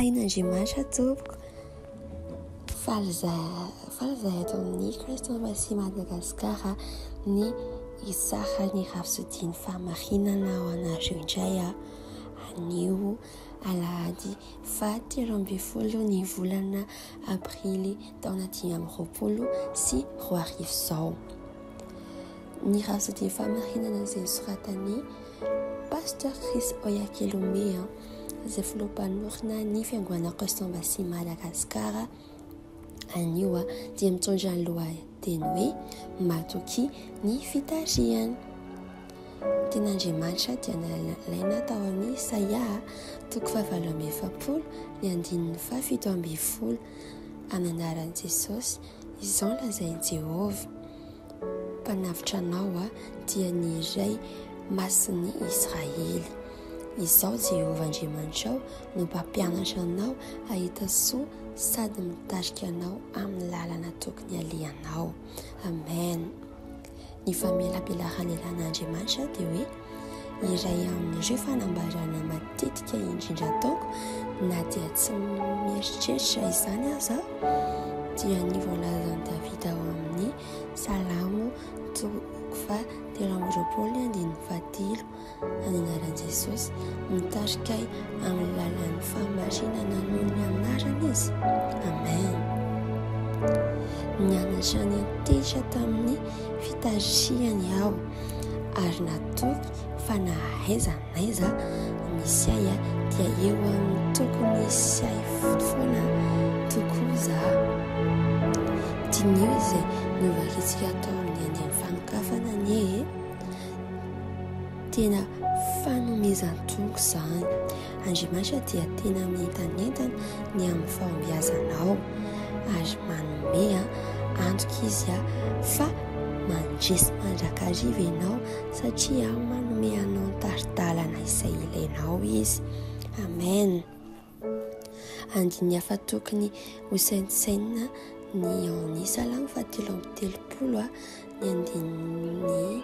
Tahin'Andriamanitra tompoko. Faly izahay faly izahay eto amin'ny Christ Embassy Madagascar ny hitsara ny rafizodin'ny fahamarinana ho anareo indray anio alahady fahatelo ambin'ny folo ny volana aprily taona dimy amby roapolo sy roa arivo izao. Ny rasa dia famarinana izay soratan'i Pasteur Chris Oyakhilome, izay filoham-panorina ny fiangoana Christ-Embassy Madagascar anio dia mitondra ny lohateny hoe matoky ny fitarihany. Tenandriamanitra dia nalaina tao amin'ny Isaia toko fahavalo amby efapolo ny andininy fahafito ambin'ny folo amin'ny anaran'i Jesosy izao lazain'i Jehovah. Mpanavotra anao dia ny iray Masin'i Israely. Izaho Jehovah Andriamanitrao no mpampianatra anao hahita soa sady mitarika anao amin'ny lalana tokony halehanao. Amen. Ny famelabelarana elan'Andriamanitra dia hoe Iray amin'ireo fanambarana matetika indrindra ataoko na dia tsy mieritreritra izany aza dia ny voalazan'i Davida ao amin'ny Salamo toko fa telo amby roapolo ny andininy fahatelo any anaran'i Jesosy mitarika ahy amin'ny lalan'ny fahamarinana noho ny anarany izy. Amen. Nianatra ny antehitra tamin'ny fitarihany aho. ary natoky fa na aiza na aiza misy ahy dia eo amin'ny tokony sy ahy foana tokoa za diniho izay miovakitsika atao amin'ny andian'ny fanokafana anie e tena fanomezan-toko izany Andriamanitra dia tena mientanentana ny amin'ny fahombiazanao ary manome antoka izy fa mandresy mandrakariva ianao satria manome anao ny tari-dalana izay ilainao izy. Amen. Andininy hafa tokony ho saintsainina ny ao amin'ny Salamo fahatelo amby telopolo ny andininy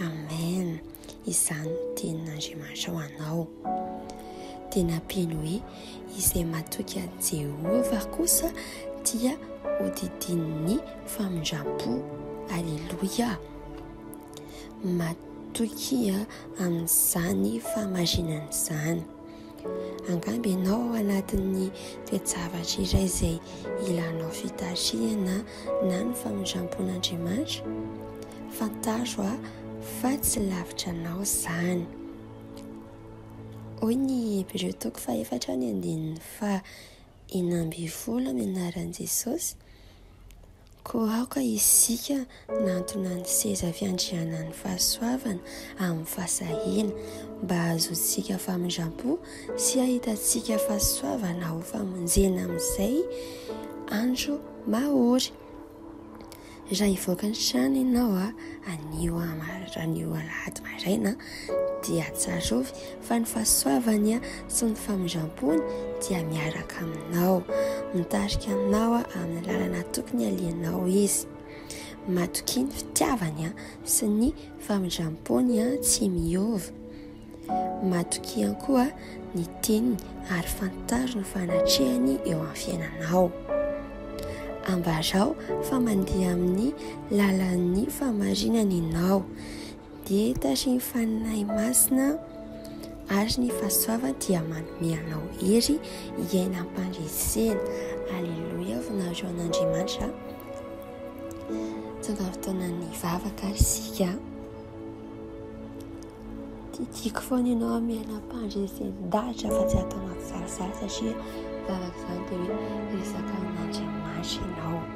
Amen izany no tenin'Andriamanitra ho anao. Dia nampiany hoe izay matoky an'i Jehovah kosa dia hodidinin'ny famindram-po. Aleloia! Matoky amin'izany fahamarinana izany. Angamba ianao ao anatin'ny toe-javatra iray izay ilanao fitarihana na ny famindram-pon'Andriamanitra. Fantaro aho fa tsy lavitra anao izany. Hoy ny Hebreo toko fahefatra ny andininy fa enina ambin'ny folo amin'ny anaran'i Jesosy. Koa aoka isika hanantona ny seza fiandrianan'ny fahasoavana amin'ny fahasahiana, mba hahazoantsika famindram-po sy hahitantsika fahasoavana ho famonjena amin'izay andro mahory. Raha hivoaka ny trano ianao anio alahady maraina, dia tsarovy fa ny fahasoavany sy ny famindram-pony dia miaraka aminao. Mitarika aminao amin'ny lalana tokony alianao izy. Matokia ny fitiavany sy ny famindram-pony tsy miova. Matokia koa ny teniny ary fantaro ny fanatrehany eo amin'ny fiainanao. Ambarao fa mandeha amin'ny lalan'ny famarinany ianao. Dia tahin'ny Faninahy Masina ary ny fahasoavany dia manome anao hery hiaina am-pandresena. Aleloia, voninahitra an'Andriamanitra. Tonga fotoanan'ny vavaka ary isika. Tiako foana ianao amin'ny aina am-pandresen-dahatra fa tsy atao anaty sarisary satria vavaka izany dia hoe resaka amin'Andriamanitra ianao.